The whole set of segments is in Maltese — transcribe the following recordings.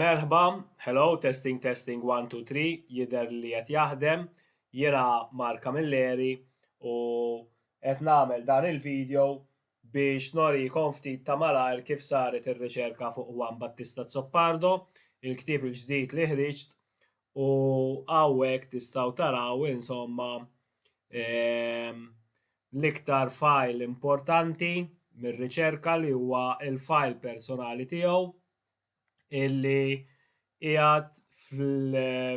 Merħba, hello, testing testing one two three, jidher li qed jaħdem, jiena Mark Camilleri u qed nagħmel dan il-video biex norikom ftit ta' malajr kif saret ir-riċerka fuq Juan Battista Azzopardo, il-ktieb il-ġdid li ħriġt U hawnhekk tistgħu taraw insomma ehm, l-iktar file importanti mir-riċerka li huwa il-file personali tiegħu illi qiegħed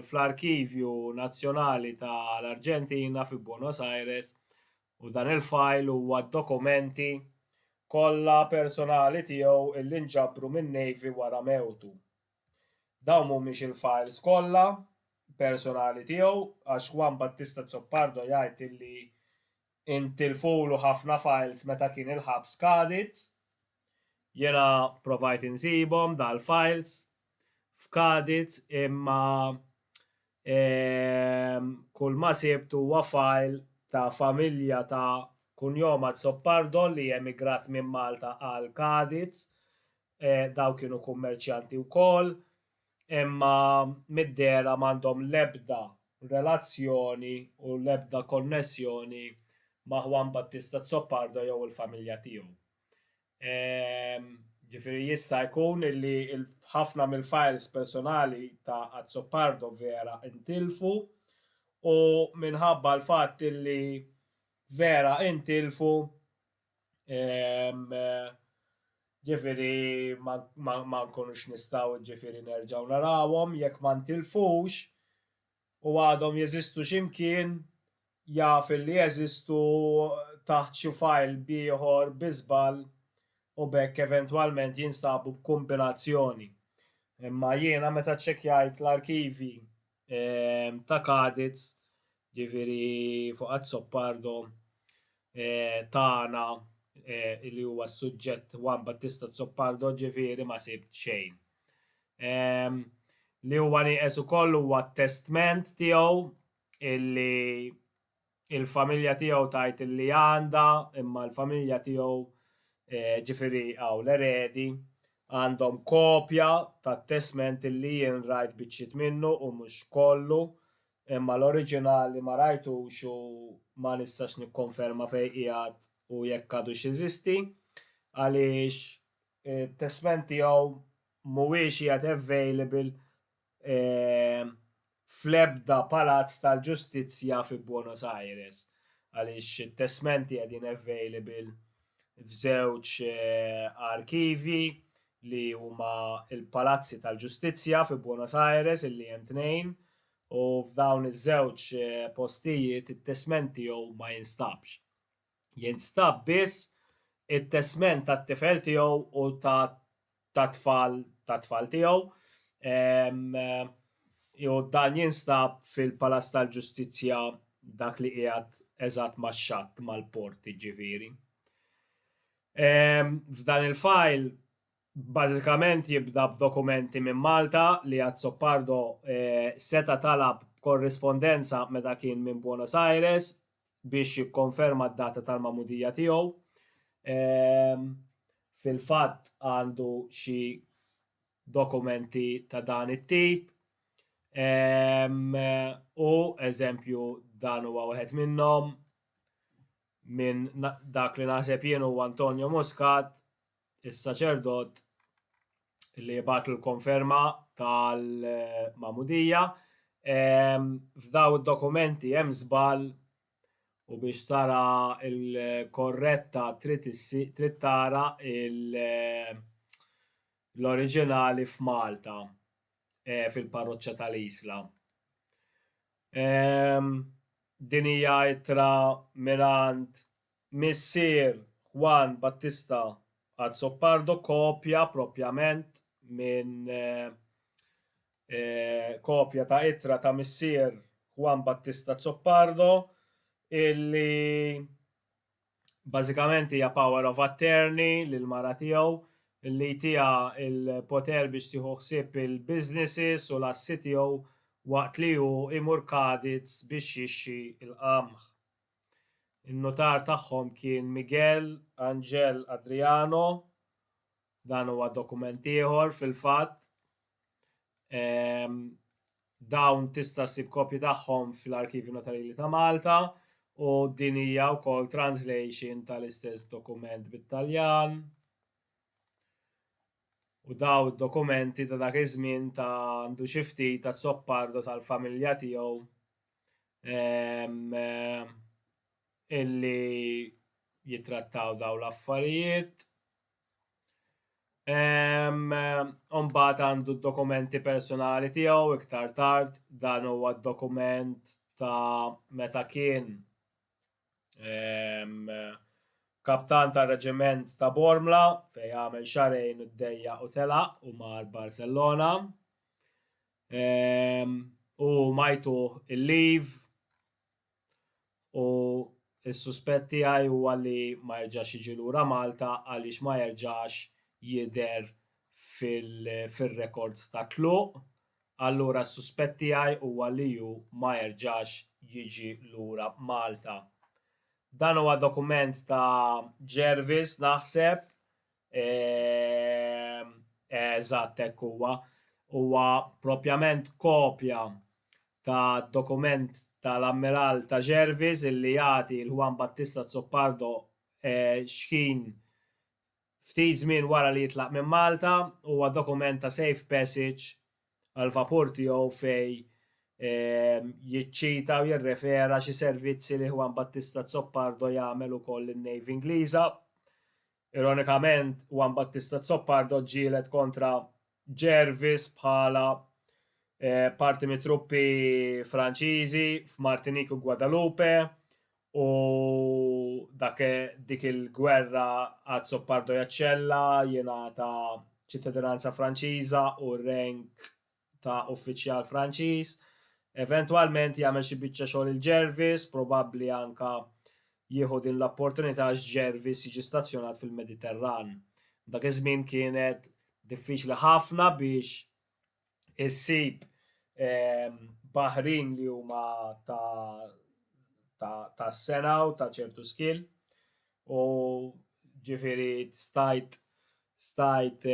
fl-Arkivju Nazzjonali tal-Arġentina fi Buenos Aires u dan il-file huwa dokumenti kollha personali tiegħu illi nġabru min-Navy wara mewtu. Dawn mhumiex il-files kollha personali tiegħu għax Juan Battista Azzopardo jgħid illi intilfulu ħafna files meta kien il-ħabs Cadiz. Jiena provajt insibhom dal-files f'Cadiz imma ehm kulma sibt huwa file ta' familja ta' kunjom Azzopardo li emigrat minn Malta għal Cadiz Dawn kienu kummerċjanti wkoll, imma mid-dehra m'għandhom l-ebda relazzjoni u l-ebda konnessjoni ma' Juan Battista Azzopardo jew il-familja tiegħu. Ġifieri jista' jkun li ħafna mill-files personali ta' Azzopardo vera intilfu u minħabba l-fatt li vera intilfu ġifieri ma nkunux nistgħu ġifieri nerġgħu narawhom jekk ma ntilfux u għadhom jeżistu xi mkien jaf li jeżistu taħt xi file b'ieħor bi żball u b'hekk eventwalment jinstabu b'kumbinazzjoni. Imma jiena meta ċċekkjajt l-arkivi ta' Caditz Ġifieri fuq Azzopardo tagħna li huwa s-suġġett Juan Battista Azzopardo ġifieri ma sibt xejn. Li huwa nieqes ukoll huwa t-testment tiegħu illi il-familja tiegħu tgħid illi għandha imma l-familja tiegħu ġifieri hawn l-eredi għandhom kopja tat-testment illi jien rajt biċċiet minnu u mhux kollu Imma l-oriġinali ma rajtux u ma nistax nikkonferma fejn qiegħed u jekk għadux jeżisti, għaliex it-testment tiegħu mhuwiex qiegħed available fl-ebda palazz tal-ġustizzja fi Buenos Aires, għaliex it-testmenti qegħdin available f'żewġ arkivji li huma l-palazzi tal-ġustizzja fi Buenos Aires, illi hemm tnejn, u f'dawn iż-żewġ postijiet it-testment tiegħu ma jinstabx. Jinstab biss it-testment tat-tifel tiegħu u tat-tfal tat-tfal tiegħu u dan jinstab fil-Palazz tal-Ġustizzja dak li qiegħed eżatt max-xatt mal-port jiġifieri. F'dan il-fajl Bażikament jibda b'dokumenti minn Malta li Azzopardo seta' talab b'korrispondenza meta kien minn Buenos Aires biex jikkonferma d-data tal-magħmudija tiegħu. Fil-fatt għandu xi dokumenti ta' dan it-tip u eżempju dan huwa wieħed minnhom minn dak li naħseb jien huwa Antonio Muscat, is-saċerdot li jibgħat l-konferma tal-magħmudija. F'daw id-dokumenti hemm żball u biex tara l-korretta trid tara l-oriġinali f'Malta e, fil-parroċċa tal-Isla. Din hija ittra mingħand Missier Juan Battista Azzopardo kopja proprjament minn kopja ta' ittra ta' missier Juan Battista Azzopardo illi bażikament hija power of attorney lil mara tiegħu li jtiha l-poter biex tieħu ħsieb il-businesses u l-assi tiegħu waqt li hu jmur Cadiz biex jixxi l-qamħ. In-nutar tagħhom kien Miguel Angel Adriano, dan huwa dokument ieħor fil-fatt. Ehm, dawn tista' ssib kopji tagħhom fl-Arkivju Notarili ta' Malta u din hija wkoll translation tal-istess dokument bit-Taljan. U daw id-dokumenti ta' dak iż-żmien ta' għandu xi ftit ta' Zoppardo tal-familja tiegħu illi jitrattaw daw l-affarijiet. Umbat għandu dokumenti personali tiegħu iktar tard dan huwa dokument ta' meta kien kaptan ta' reġiment ta' Bormla fej għamel xarejn u d-dejja u telaq u mar Barcelona. Ehm, u majtu il-liv u s-suspett tiegħi huwa li ma jerġax jiġi lura Malta għaliex ma jerġax jidher fil-rekords ta' tluq. Allura s-suspett tiegħi huwa li hu ma jerġax jiġi lura Malta. Dan huwa dokument ta' Jervis naħseb Ehm, eżatt hekk huwa. Huwa propjament kopja ta' dokument tal-Ammiral ta' Jervis illi jagħti l Juan Battista Zoppardo eh, xħin ftit żmien wara li jitlaq minn Malta, huwa dokument ta' safe passage għal vapur tiegħu fej ehm, jiċċita u jirrefera xi servizzi li Juan Battista Zoppardo jagħmel ukoll lin-Navy Ingliża Ironikament, Juan Battista Azzopardo ġġieled kontra Gervais bħala parti mit-truppi Franċiżi f'Martinique u Guadalupe u dak dik il-gwerra Azzopardo jaċċella, jingħata ċittadinanza Franċiża u rank ta' uffiċjal Franċiż. Eventwalment jagħmel xi biċċa xogħol il-Jervis, probabbli anke jieħu din l-opportunità għax Jervis jiġi stazzjonat fil-Mediterran. Dak iż-żmien kienet diffiċli ħafna biex issib ehm, baħrin li huma ta' ta' sena u ta' ċertu skill u ġifiri stajt stajt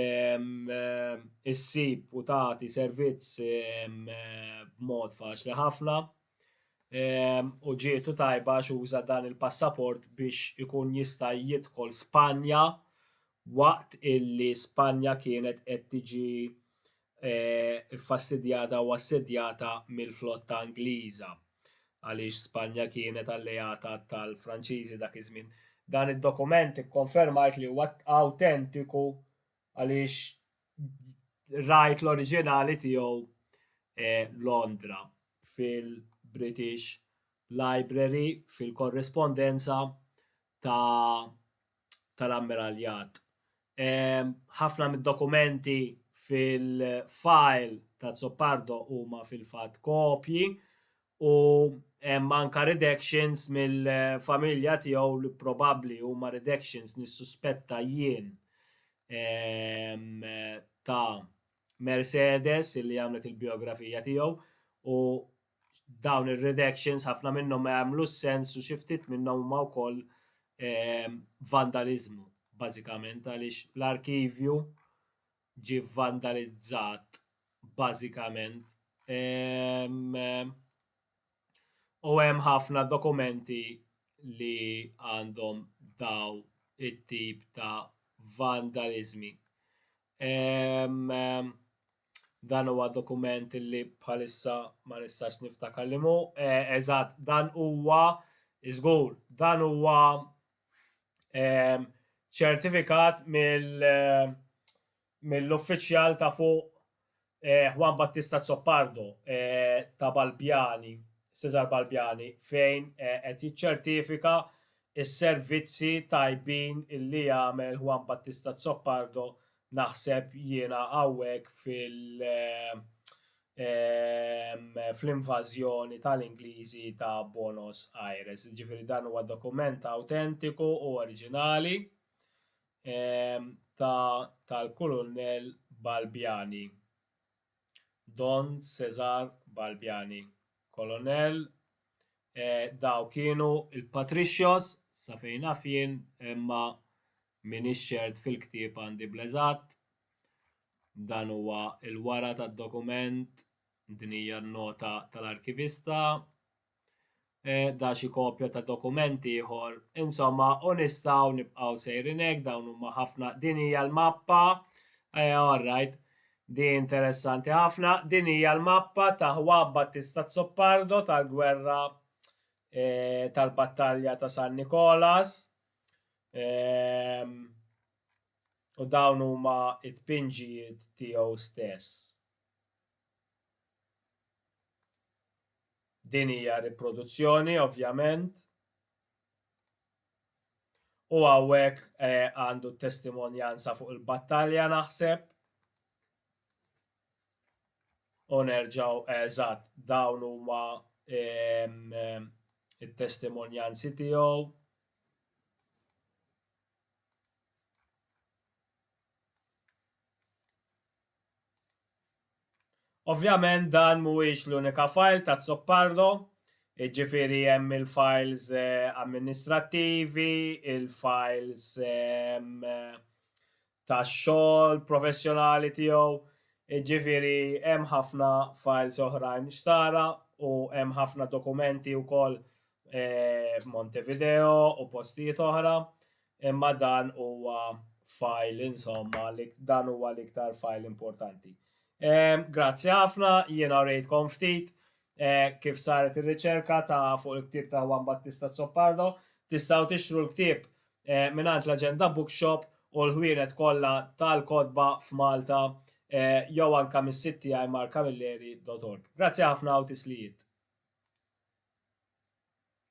issib u tagħti servizz b'mod faċli ħafna u ġietu tajba għax uża dan il-passaport biex ikun jista' jidħol Spanja waqt illi Spanja kienet qed tiġi ffastidjata u assedjata mill-flotta Ingliża, għaliex Spanja kienet alleata tal-Franċiżi dak iż-żmien. Dan id-dokument ikkonfermajt li huwa awtentiku għaliex rajt l-oriġinali tiegħu Londra fil-British Library fil-korrispondenza ta' tal-Ammiralljat. Ħafna mid-dokumenti fil-fajl t'Azzopardo huma fil-fatt kopji u hemm anke redactions mill-familja tiegħu li probabbli huma redactions nissuspetta jien ta' Mercedes li għamlet il-bijografija tiegħu u dawn ir-redactions ħafna minnhom ma jagħmlux sens u xi ftit minnhom huma wkoll ehm, vandaliżmu bażikament għaliex l-arkivju ġi vandalizzat bażikament. Ehm, u hemm ħafna dokumenti li għandhom daw it-tip ta' vandalizmi. Ehm, Dan huwa dokument li bħalissa ma nistax niftakar li mu. Eh, eżatt, dan huwa, żgur, dan huwa ehm, ċertifikat eh, mill-uffiċjal ta' fuq eh, Juan Battista Zoppardo ta' Balbjani, Cesar Balbjani, fejn qed jiċċertifika s servizzi tajbin illi jagħmel Juan Battista Zoppardo Naħseb jiena hawnhekk fil fl-invażjoni tal-Ingliżi ta' Buenos Aires. Jiġifieri dan huwa dokument awtentiku u oriġinali ta' tal-Kulunell Balbiani. Don Cesar Balbiani, Kolonel, Eh, daw kienu il-patricios, sa fejn naf jien, imma minix ċert fil-ktieb għandi bleżat. Dan huwa il-wara tad-dokument, din hija n-nota tal-arkivista. eh, da xi kopja ta' dokument ieħor. Insomma, u nistgħu nibqgħu sejrin hekk dawn huma ħafna din hija l-mappa. Eh, all right. Di interessanti ħafna. Din hija l-mappa ta' Juan Battista Zoppardo tal-gwerra eh, tal-battalja ta' San Nikolas. Ehm, u dawn huma it-pinġijiet tiegħu stess. Din hija riproduzzjoni, ovvjament. U hawnhekk eh, għandu eh, testimonjanza fuq il-battalja naħseb. U nerġaw eżatt eh, dawn huma eh, it-testimonjanzi tiegħu. Ovvjament dan mhuwiex l-unika fajl t'Azzopardo, jiġifieri hemm il-fajls amministrattivi, il-fajls tax-xogħol professjonali tiegħu, jiġifieri hemm ħafna fajls oħrajn x'tara u hemm ħafna dokumenti wkoll f'Montevideo u postijiet oħra. imma dan huwa file insomma li dan huwa l-iktar file importanti. Ehm, grazzi ħafna, jiena rejtkom ftit eh, kif saret ir-riċerka ta' fuq il-ktieb ta' Juan Battista Zoppardo, tistgħu tixtru l-ktieb eh, mingħand l-Aġenda Bookshop u l-ħwienet kollha tal-kotba f'Malta eh, jew anka mis-sit tiegħi markamilleri.org. Grazzi ħafna u tislijiet.